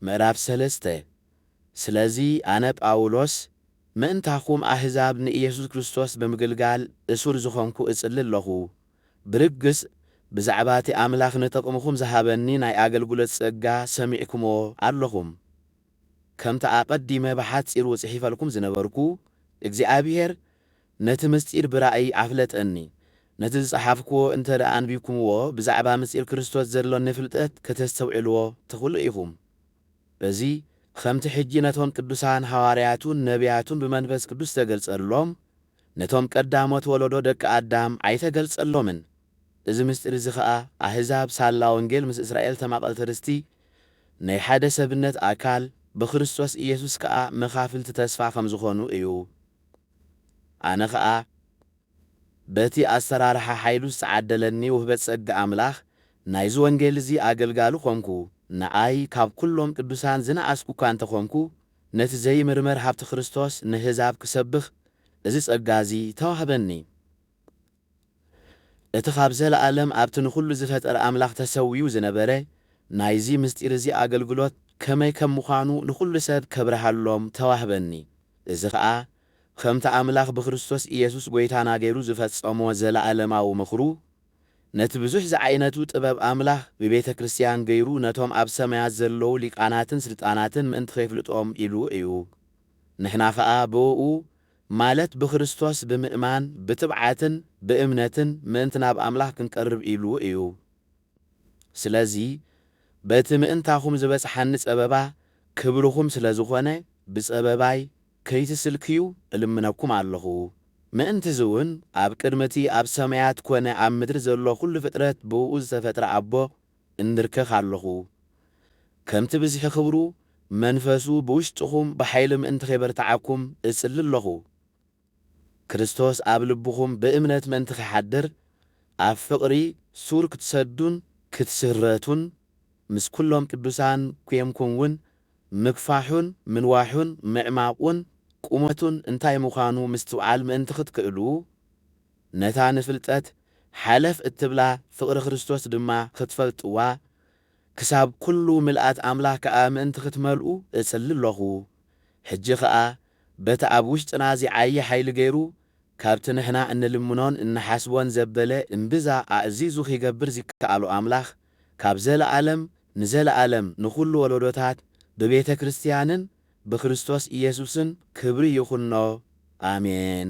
ምዕራፍ ሰለስተ ስለዚ ኣነ ጳውሎስ፣ ምእንታኹም ኣህዛብ ንኢየሱስ ክርስቶስ ብምግልጋል እሱር ዝኾንኩ እጽሊ ኣሎኹ። ብርግጽ ብዛዕባ እቲ ኣምላኽ ንጥቕምኹም ዝሃበኒ ናይ ኣገልግሎት ጸጋ ሰሚዕኩምዎ ኣሎኹም። ከምቲ ኣቐዲመ ብሓጺሩ ጽሒፈልኩም ዝነበርኩ፣ እግዚኣብሔር፣ ነቲ ምሥጢር ብራእይ ኣፍለጠኒ። ነቲ ዝጸሓፍኩዎ እንተ ደኣ ኣንቢብኩምዎ፣ ብዛዕባ ምሥጢር ክርስቶስ ዘሎኒ ፍልጠት ከተስተውዕልዎ ትኽእሉ ኢኹም። በዚ ኸምቲ ሕጂ ነቶም ቅዱሳን ሓዋርያቱን ነብያቱን ብመንፈስ ቅዱስ ዝተገልጸሎም፣ ነቶም ቀዳሞት ወለዶ ደቂ ኣዳም ኣይተገልጸሎምን። እዚ ምሥጢር እዚ ኸኣ ኣሕዛብ ሳላ ወንጌል ምስ እስራኤል ተማቐልቲ ርስቲ፣ ናይ ሓደ ሰብነት ኣካል፣ ብክርስቶስ ኢየሱስ ከኣ መኻፍልቲ ተስፋ ከም ዝኾኑ እዩ። ኣነ ከኣ በቲ ኣሰራርሓ ሓይሉ ዝተዓደለኒ ውህበት ጸጋ ኣምላኽ ናይዚ ወንጌል እዚ ኣገልጋሊ ኰንኩ። ንኣይ ካብ ኵሎም ቅዱሳን ዝነኣስኩ እኳ እንተ ዀንኩ፣ ነቲ ዘይምርመር ሃብቲ ክርስቶስ ነህዛብ ክሰብኽ እዚ ጸጋ እዚ ተዋህበኒ። እቲ ኻብ ዘለኣለም ኣብቲ ንዅሉ ዝፈጠረ ኣምላኽ ተሰዊኡ ዝነበረ ናይዚ ምስጢር እዚ ኣገልግሎት ከመይ ከም ምዃኑ ንዅሉ ሰብ ከብርሃሎም ተዋህበኒ። እዚ ኸኣ ኸምቲ ኣምላኽ ብክርስቶስ ኢየሱስ ጐይታና ገይሩ ዝፈጸሞ ዘለኣለማዊ ምኽሩ ነቲ ብዙሕ ዝዓይነቱ ጥበብ ኣምላኽ ብቤተ ክርስቲያን ገይሩ ነቶም ኣብ ሰማያት ዘለዉ ሊቃናትን ስልጣናትን ምእንቲ ኼፍልጦም ኢሉ እዩ ንሕና ኸኣ ብእኡ ማለት ብክርስቶስ ብምእማን ብትብዓትን ብእምነትን ምእንቲ ናብ ኣምላኽ ክንቀርብ ኢሉ እዩ። ስለዚ በቲ ምእንታኹም ዝበጽሓኒ ጸበባ ክብርኹም ስለ ዝኾነ ብጸበባይ ከይትስልክዩ እልምነኩም ኣለኹ። ምእንትዚውን ኣብ ቅድሚ እቲ ኣብ ሰማያት ኮነ ኣብ ምድሪ ዘሎ ኩሉ ፍጥረት ብእኡ ዝተፈጥረ ኣቦ እንብርከኽ ኣሎኹ፣ ከምቲ ብዝሒ ክብሩ መንፈሱ ብውሽጥኹም ብሓይሊ ምእንቲ ኼበርትዓኩም እጽሊ ኣሎኹ። ክርስቶስ ኣብ ልብኹም ብእምነት ምእንቲ ኺሓድር፣ ኣብ ፍቕሪ ሱር ክትሰዱን ክትስረቱን፣ ምስ ኵሎም ቅዱሳን ኴንኩም ውን ምግፋሑን ምንዋሑን ምዕማቝን ቁመቱን እንታይ ምዃኑ ምስትውዓል ምእንቲ ኽትክእሉ፣ ነታ ንፍልጠት ሓለፍ እትብላ ፍቕሪ ክርስቶስ ድማ ኽትፈልጥዋ፣ ክሳብ ኵሉ ምልኣት ኣምላኽ ከኣ ምእንቲ ኽትመልኡ እጽሊ ኣሎኹ። ሕጂ ኸኣ በቲ ኣብ ውሽጥና ዚዓዪ ሓይሊ ገይሩ ካብቲ ንሕና እንልምኖን እንሓስቦን ዘበለ እምብዛ ኣእዚዙ ኺገብር ዚከኣሎ ኣምላኽ ካብ ዘለኣለም ንዘለኣለም ንዅሉ ወለዶታት ብቤተ ክርስትያንን ብክርስቶስ ኢየሱስን ክብሪ ይኹኖ። ኣሜን።